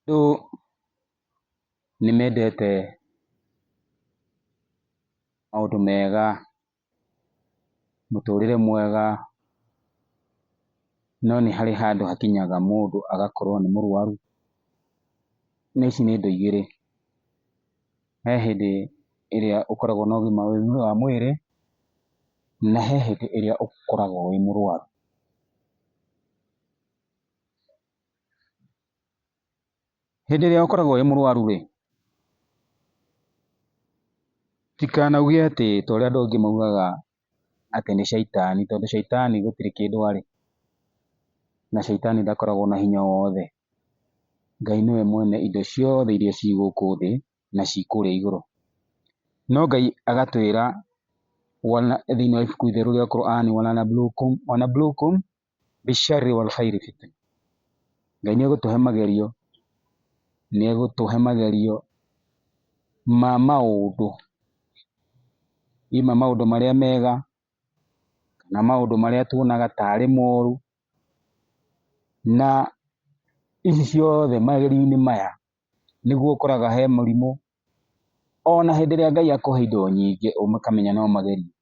Andũ nĩ mendete maũndũ mega, mũtũrĩre mwega, no nĩ harĩ handũ hakinyaga mũndũ agakorwo nĩ mũrwaru, na ici nĩ indo igĩrĩ, he hĩndĩ ĩrĩa ũkoragwo na ũgima wa mwĩrĩ, na he hĩndĩ ĩrĩa ũkoragwo wĩ mũrwaru. Hĩndĩ ĩrĩa ũkoragwo wĩ mũrwaru rĩ, ndũkanauge atĩ ta ũrĩa andũ angĩ maugaga atĩ nĩ caitani, tondũ caitani gũtirĩ kĩndũ arĩ, na caitani ndakoragwo na hinya o wothe. Ngai nĩwe mwene indo ciothe iria ciĩ gũkũ thĩ na ciĩ kũrĩa igũrũ. No Ngai agatwĩra thĩinĩ wa ibuku rĩtheru rĩa Korani, Wa-lanabluukum, Wa-lanabluukum, Bisharri wal khairi fitna. Ngai nĩ egũtũhe magerio, nĩ egũtũhe magerio ma maũndũ, either maũndũ marĩa mega na maũndũ marĩa tuonaga tarĩ moru, na ici ciothe, magerio-inĩ maya nĩguo ũkoraga he mũrimũ, ona hĩndĩ ĩrĩa Ngai akũhe indo nyingĩ ũkamenya no magerio.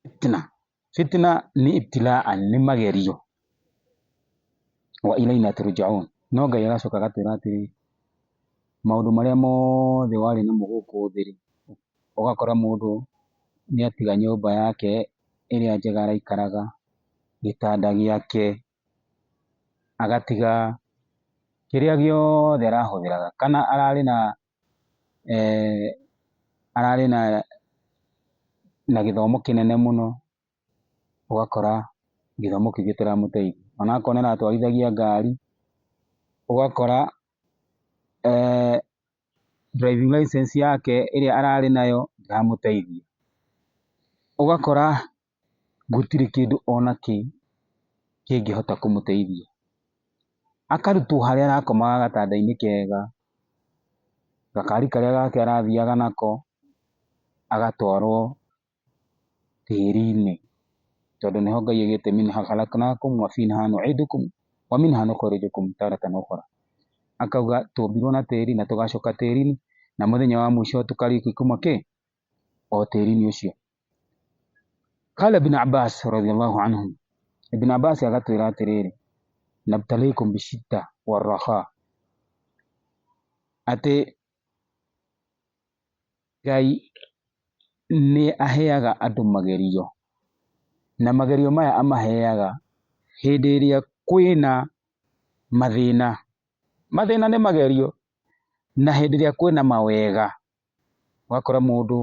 Fitna, fitna ni ibtilaan ni magerio, wa ilaina turjaun, no Ngai agacoka agatwĩra atĩrĩ, maũndũ marĩa mothe warĩ namo gũkũ thĩ rĩ, ũgakora mũndũ nĩatiga nyũmba yake ĩrĩa njega araikaraga, gĩtanda gĩake, agatiga kĩrĩa gĩothe arahũthĩraga kana ararĩ na ararĩ na gĩthomo kĩnene mũno ũgakora gĩthomo kĩu gĩtiramũteithia. Ona akorwo nĩ aratwarithagia ngari ũgakora driving licence yake ĩrĩa ararĩ nayo ndĩramũteithia. Ũgakora gũtirĩ kĩndũ ona kĩ kĩngĩhota kũmũteithia. Akarutwo harĩa arakomaga gatanda-inĩ kega, gakari karĩa gake arathiaga nako, agatwarwo tĩri-inĩ, tondũ nĩho Ngai augĩte Minha khalaknakum wa fiha nu'idukum wa minha nukhrijukum taratan ukhra. Akauga twombirwo na tĩri na tũgacoka tĩri-inĩ, na mũthenya wa mũico tũkarĩkia kuma kĩ? o tĩri-inĩ ũcio. Qala ibn Abbas radhiyallahu anhu, Ibn Abbas agatwĩra atĩrĩrĩ, nabtalikum bishidda warraha, atĩ Ngai nĩ aheaga andũ magerio, na magerio maya amaheaga hĩndĩ ĩrĩa kwĩna mathĩna. Mathĩna nĩ magerio, na hĩndĩ ĩrĩa kwĩna mawega ũgakora mũndũ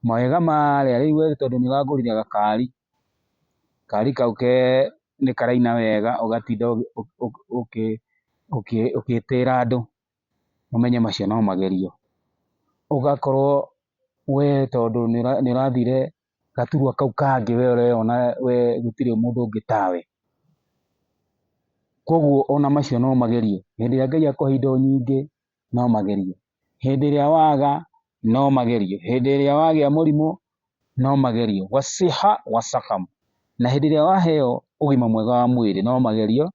mawega ma rĩa rĩu we tondũ nĩ ũragũrire gakari, gakari kau ke nĩ karaina wega ũgatinda ũgĩtĩra andũ ũmenye macio no magerio. Ũgakorwo we tondũ nĩ ũrathire gaturwa kau kangĩ we ũreyona we gũtirĩ mũndũ ũngĩ tawe. Koguo ona macio no magerio hĩndĩ ĩrĩa Ngai akũhe indo nyingĩ. no magerio, hĩndĩ ĩrĩa waga no magerio, hĩndĩ ĩrĩa wagĩa mũrimũ no magerio, wasiha wasakam, na hĩndĩ ĩrĩa waheo ũgima mwega wa mwĩrĩ no magerio,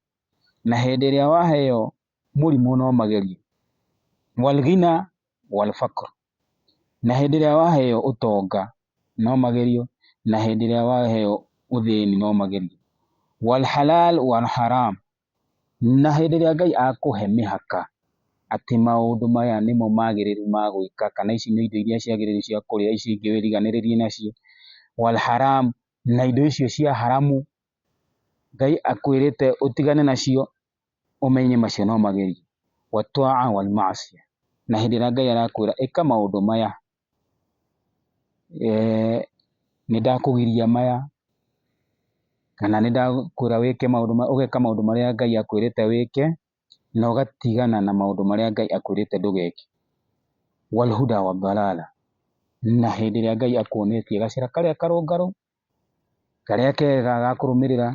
na hĩndĩ ĩrĩa waheo mũrimũ no magerio, walghina walfakr, na hĩndĩ ĩrĩa waheo ũtonga no magerio, na hĩndĩ ĩrĩa waheo ũthĩni no magerio, walhalal walharam. Na hĩndĩ ĩrĩa Ngai akũhe mĩhaka atĩ maũndũ maya nĩmo magĩrĩru ma gwĩka kana ici nĩ indo iria ciagĩrĩru cia kũrĩa, ici ingĩ wĩriganĩrĩrie nacio, wal haraam na indo icio cia haramu, Ngai akwĩrĩte ũtigane nacio, ũmenye macio no magerio, wa twaa wal maasiya, na hĩndĩ ĩrĩa Ngai arakwĩra ĩka maũndũ maya Nĩndakũgiria maya, kana nĩndakwĩra wĩke maũndũ maya, ũgeka maũndũ marĩa Ngai akwĩrĩte wĩke, na ũgatigana na maũndũ marĩa Ngai akwĩrĩte ndũgeke. Na hĩndĩ ĩrĩa Ngai akuonetie gacĩra karĩa karũngarũ, karĩa kega ga kũrũmĩrĩra,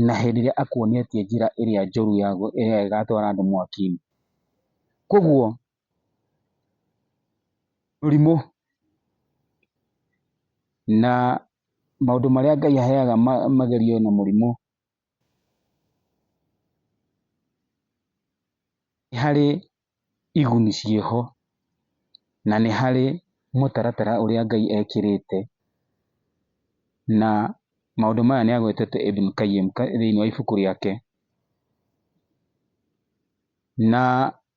na hĩndĩ ĩrĩa akuonetie njĩra ĩrĩa njũru ya ĩrĩa ĩgatwara andũ mwaki-inĩ. Kuoguo Mũrimũ. Na maũndũ marĩa Ngai aheaga magerio na mũrimũ, nĩ harĩ iguni ciĩho, na nĩ harĩ mũtaratara ũrĩa Ngai ekĩrĩte, na maũndũ maya nĩ agwetete Ibn Qayyim thĩiniĩ wa ibuku rĩake. Na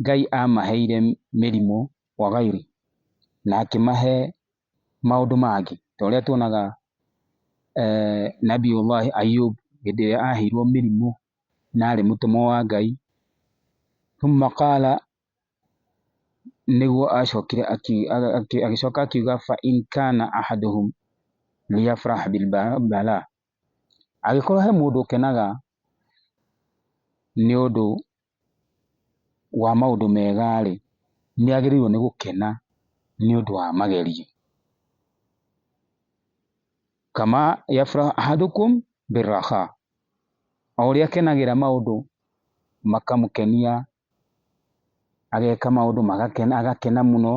Ngai amaheire mĩrimũ gwa gairũ, na akĩmahe maũndũ mangĩ, ta ũrĩa tuonaga Nabii Allah Ayub hĩndĩ ĩrĩa aheirwo mĩrimũ na arĩ mũtũmwo wa Ngai, thumma qala nĩguo acokire agĩcoka akiuga fa in kana ahaduhum liyafrah bil bala, angĩkorwo he mũndũ ũkenaga nĩ ũndũ wa maũndũ mega-rĩ, nĩ agĩrĩirwo nĩ gũkena nĩ ũndũ wa magerio. O ũrĩa akenagĩra maũndũ makamũkenia, ageka maũndũ agakena mũno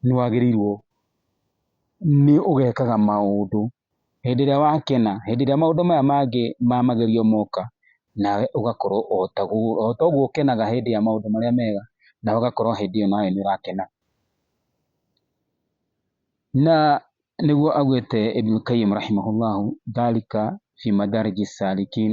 nĩ wagĩrĩirwo nĩ ũgekaga maũndũ. Hĩndĩ ĩrĩa wakena, hĩndĩ ĩrĩa maũndũ maya mangĩ ma magerio moka, nawe ũgakorwo o ta ũguo ũkenaga hĩndĩ ya maũndũ marĩa mega, nawe ũgakorwo hĩndĩ ĩyo nawe nĩ ũrakena. Na nĩguo augĩte Ibn Qayyim rahimahullahu dhalika fi madariji salikin.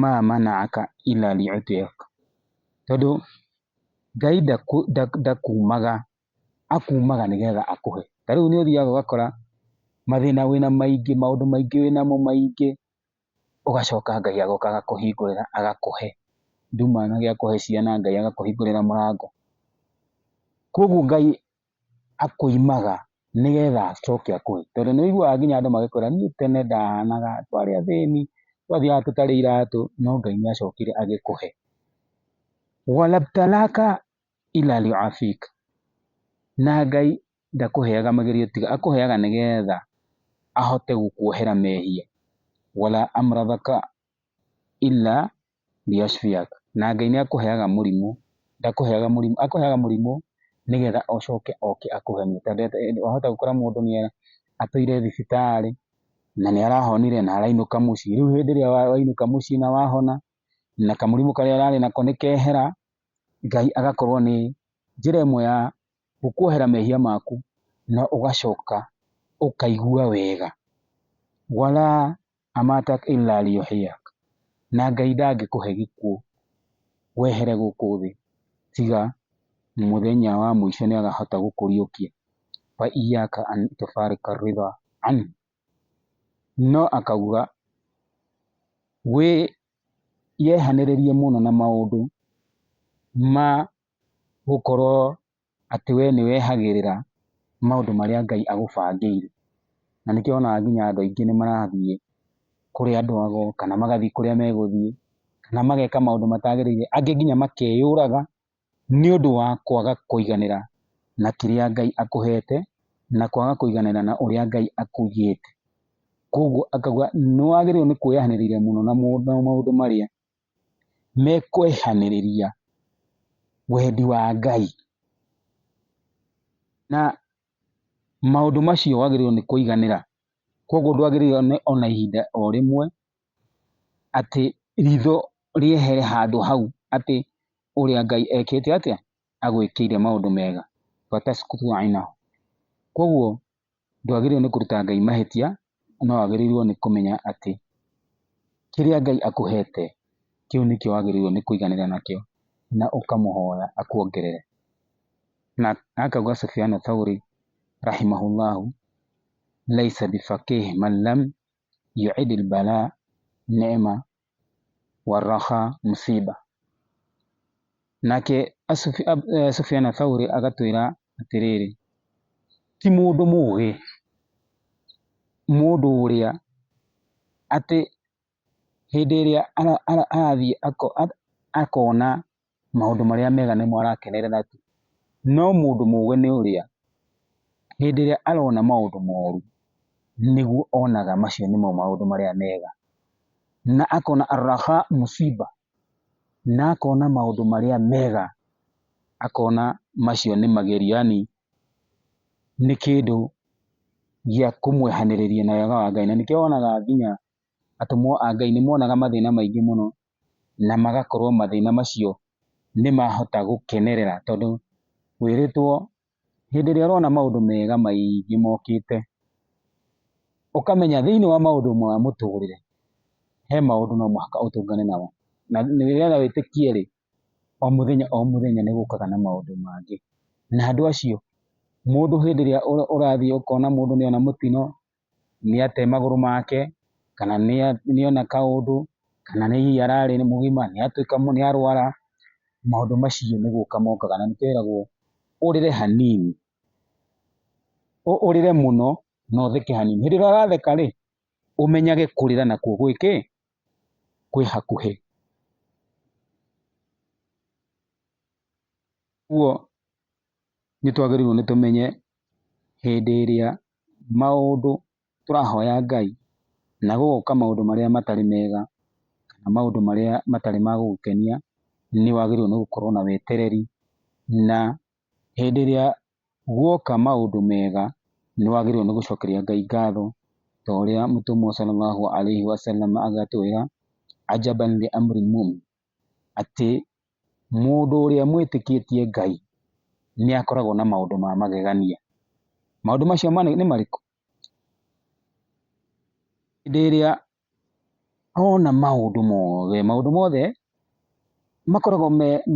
Ma mana'aka illa li'utiyyak. Tondũ Ngai ndakuumaga, akuumaga nĩgetha akũhe. Ta rĩu nĩ ũthiaga ũgakora mathĩna wĩna maingĩ, maũndũ maingĩ wĩnamo maingĩ, ũgacoka Ngai agoka agakũhingũrĩra agakũhe. Nduma, Ngai agakũhe ciana, Ngai agakũhingũrĩra mũrango. Kwoguo Ngai akoimaga nĩgetha acoke akũhe. Tondũ nĩ ũiguaga nginya andũ magĩkwĩra niĩ tene ndahanaga, twarĩ athĩni, twathiaga tũtarĩ iratũ, no Ngai nĩ acokire agĩkũhe. Na Ngai ndakũheaga magerio tu, akũheaga nĩgetha ahote gũkuohera mehia. na Ngai nĩ akũheaga mũrimũ, ndakũheaga mũrimũ, akũheaga mũrimũ nĩgetha ũcoke oke akũhonie. Tondũ wahota gũkora mũndũ nĩ atũire thibitarĩ na nĩ arahonire na arainũka mũciĩ, rĩu hĩndĩ ĩrĩa wainũka mũciĩ na wahona na kamũrimũ karĩa ũrarĩ nako nĩ kehera, Ngai agakorwo nĩ njĩra ĩmwe ya gũkuohera mehia maku na ũgacoka ũkaigua wega. Amatak illa liyuhyiak, na Ngai ndangĩkũhe gĩkuũ wehere gũkũ thĩ, tiga mũthenya wa mũico nĩakahota gũkũriũkia, fa iyyaka an tufarika ridha anhu, no akauga, wĩyehanĩrĩrie mũno na maũndũ ma gũkorwo atĩ we nĩ wehagĩrĩra maũndũ marĩa Ngai agũbangĩire. Na nĩkĩo wonaga nginya andũ aingĩ nĩ marathiĩ kũrĩ andũ ago, kana magathiĩ kũrĩa megũthiĩ, kana mageka maũndũ matagĩrĩire, angĩ nginya makeyũraga nĩ ũndũ wa kwaga kũiganĩra na kĩrĩa Ngai akũhete, na kwaga kũiganĩra na ũrĩa Ngai akugĩte. Koguo akauga nĩ wagĩrĩirwo nĩ kwĩyahanĩrĩria mũno na maũndũ marĩa mekwehanĩrĩria wendi wa Ngai. Na maũndũ macio wagĩrĩirwo nĩ kũiganĩra. Koguo ndwagĩrĩirwo nĩ ona ihinda o rĩmwe atĩ ritho rĩehere handũ hau atĩ ũrĩa Ngai ekĩte atĩa? Agwĩkĩire maũndũ mega. Koguo ndwagĩrĩirwo nĩ kũruta Ngai mahĩtia, no wagĩrĩirwo nĩ kũmenya atĩ kĩrĩa Ngai akũhete kĩu nĩkĩo wagĩrĩirwo nĩ kũiganĩra nakĩo na ũkamũhoya akuongerere. Na akauga Sufyanu Thauri rahimahullahu laisa bifaqih man lam yu'id al-bala ni'ma warraha mũciba. Nake Sufiana Thauri agatwĩra atĩrĩrĩ, ti mũndũ mũgĩ mũndũ ũrĩa atĩ hĩndĩ ĩrĩa arathiĩ akona maũndũ marĩa mega nĩmo arakenerera tu, no mũndũ mũgĩ nĩ ũrĩa hĩndĩ ĩrĩa arona maũndũ moru nĩguo onaga macio nĩmo maũndũ marĩa mega, na akona Al-Rahaa Al-Musiibah na akona maũndũ marĩa mega akona macio nĩ magerio yaani nĩ kĩndũ gĩa kũmwehanĩrĩria na wega wa Ngai, na nĩkĩo wonaga nginya atũmwo a Ngai nĩmonaga mathĩna maingĩ mũno na magakorwo mathĩna macio nĩmahota gũkenerera tondũ wĩrĩtwo hĩndĩ ĩrĩa ũrona maũndũ mega maingĩ mokĩte, ũkamenya thĩiniĩ wa maũndũ ma mũtũrĩre, he maũndũ no mũhaka ũtũngane namo. Na nĩgetha wĩtĩkie-rĩ, o mũthenya o mũthenya nĩgũkaga na maũndũ mangĩ. Na andũ acio, mũndũ hĩndĩ ĩrĩa ũrathiĩ ũkona mũndũ nĩona mũtino, nĩate magũrũ make, kana nĩona kaũndũ, kana nĩ hihi ararĩ mũgima, nĩatuĩka nĩarwara, maũndũ macio nĩ gũka mokaga na nĩkĩo eragwo ũrĩre hanini, ũrĩre mũno na ũtheke hanini. Hĩndĩ ĩrĩa ũratheka rĩ, ũmenyage kũrĩra nakuo gwĩ kĩ? Kwĩ hakuhĩ. Ũguo nĩtwagĩrĩirwo nĩ tũmenye hĩndĩ ĩrĩa maũndũ tũrahoya Ngai na gũgoka maũndũ marĩa matarĩ mega kana maũndũ marĩa matarĩ ma gũgũkenia, nĩ wagĩrĩirwo nĩ gũkorwo na wetereri. Na hĩndĩ ĩrĩa guoka maũndũ mega, nĩ wagĩrĩirwo nĩ gũcokeria Ngai ngatho ta ũrĩa mũtũmwo Sallallahu Alaihi Wasallam agatwĩra, atĩ mũndũ ũrĩa mwĩtĩkĩtie Ngai nĩ akoragwo na maũndũ ma magegania. Maũndũ macio nĩ marĩkũ? Hĩndĩ ĩrĩa ona maũndũ mothe, maũndũ mothe makoragwo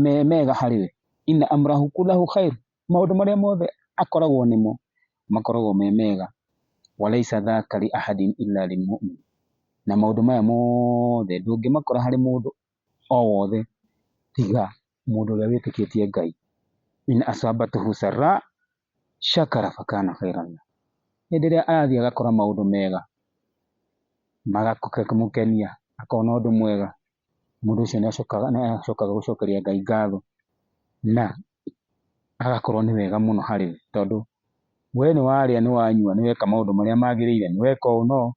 me mega harĩ we, in amlahu kullahu khair. maũndũ marĩa mothe akoragwo nĩmo makoragwo me mega, walaisa dhaka li ahadin illa lil mu'min, na maũndũ maya mothe ndũngĩmakora harĩ mũndũ o wothe tiga mũndũ ũrĩa wĩtĩkĩtie Ngai, in asabatuhu sarra shakara fakana khairan lah, hĩndĩ ĩrĩa arathiĩ agakora maũndũ mega makamũkenia akona ũndũ mwega. mũndũ ũcio nĩ acokaga gũcokeria Ngai ngatho na agakorwo nĩ wega mũno harĩ we, tondũ we nĩ warĩa, nĩ wanyua, nĩ weka maũndũ marĩa magĩrĩire, nĩ weka ũũ na ũũ,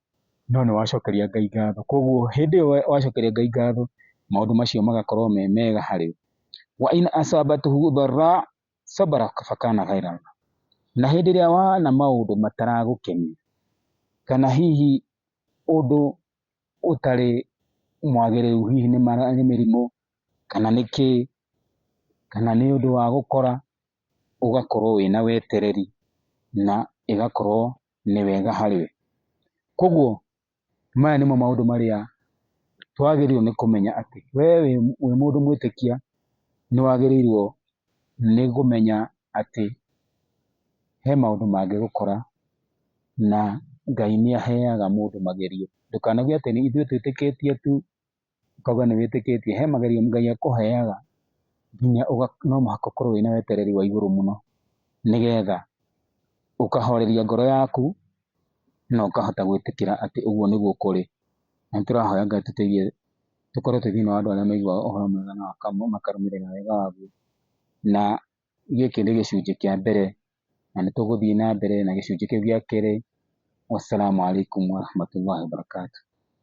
no nĩ wacokeria Ngai ngatho. Koguo hĩndĩ ĩyo wacokeria Ngai ngatho, maũndũ macio magakorwo me mega harĩ we. Wa in asabathu dharraa sabara fa kana khairan lahu, na hĩndĩ ĩrĩa wona maũndũ mataragũkenia, kana hihi ũndũ ũtarĩ mwagĩrĩru hihi nĩ mĩrimũ kana nĩ kĩĩ, kana nĩ ũndũ wa gũkora, ũgakorwo wĩna wetereri na ĩgakorwo nĩ wega harĩ we. Koguo maya nĩmo maũndũ marĩa twagĩrĩirwo nĩ kũmenya atĩ we wĩ mũndũ mwĩtĩkia nĩ wagĩrĩirwo nĩ kũmenya atĩ he maũndũ mangĩgũkora. na Ngai nĩ aheaga mũndũ magerio. Ndũkanauge atĩ ithuĩ twĩtĩkĩtie tu ũkauga nĩ wĩtĩkĩtie. He magerio Ngai akũheaga nginya no mũhaka ũkorwo wĩna wetereri wa igũrũ mũno nĩ getha ũkahoreria ngoro yaku na ũkahota gwĩtĩkĩra atĩ ũguo nĩguo kũrĩ. Na nĩ tũrahoya Ngai atũteithie tũkorwo twĩ thĩinĩ wa andũ arĩa maiguaga ũhoro mwega na makarũmĩrĩra wega waguo. Na gĩkĩ nĩ gĩcunjĩ kĩa mbere na nĩ tũgũthiĩ na mbere na gĩcunjĩ kĩu gĩa kerĩ. Wassalamu alaikum warahmatullahi wabarakatuh.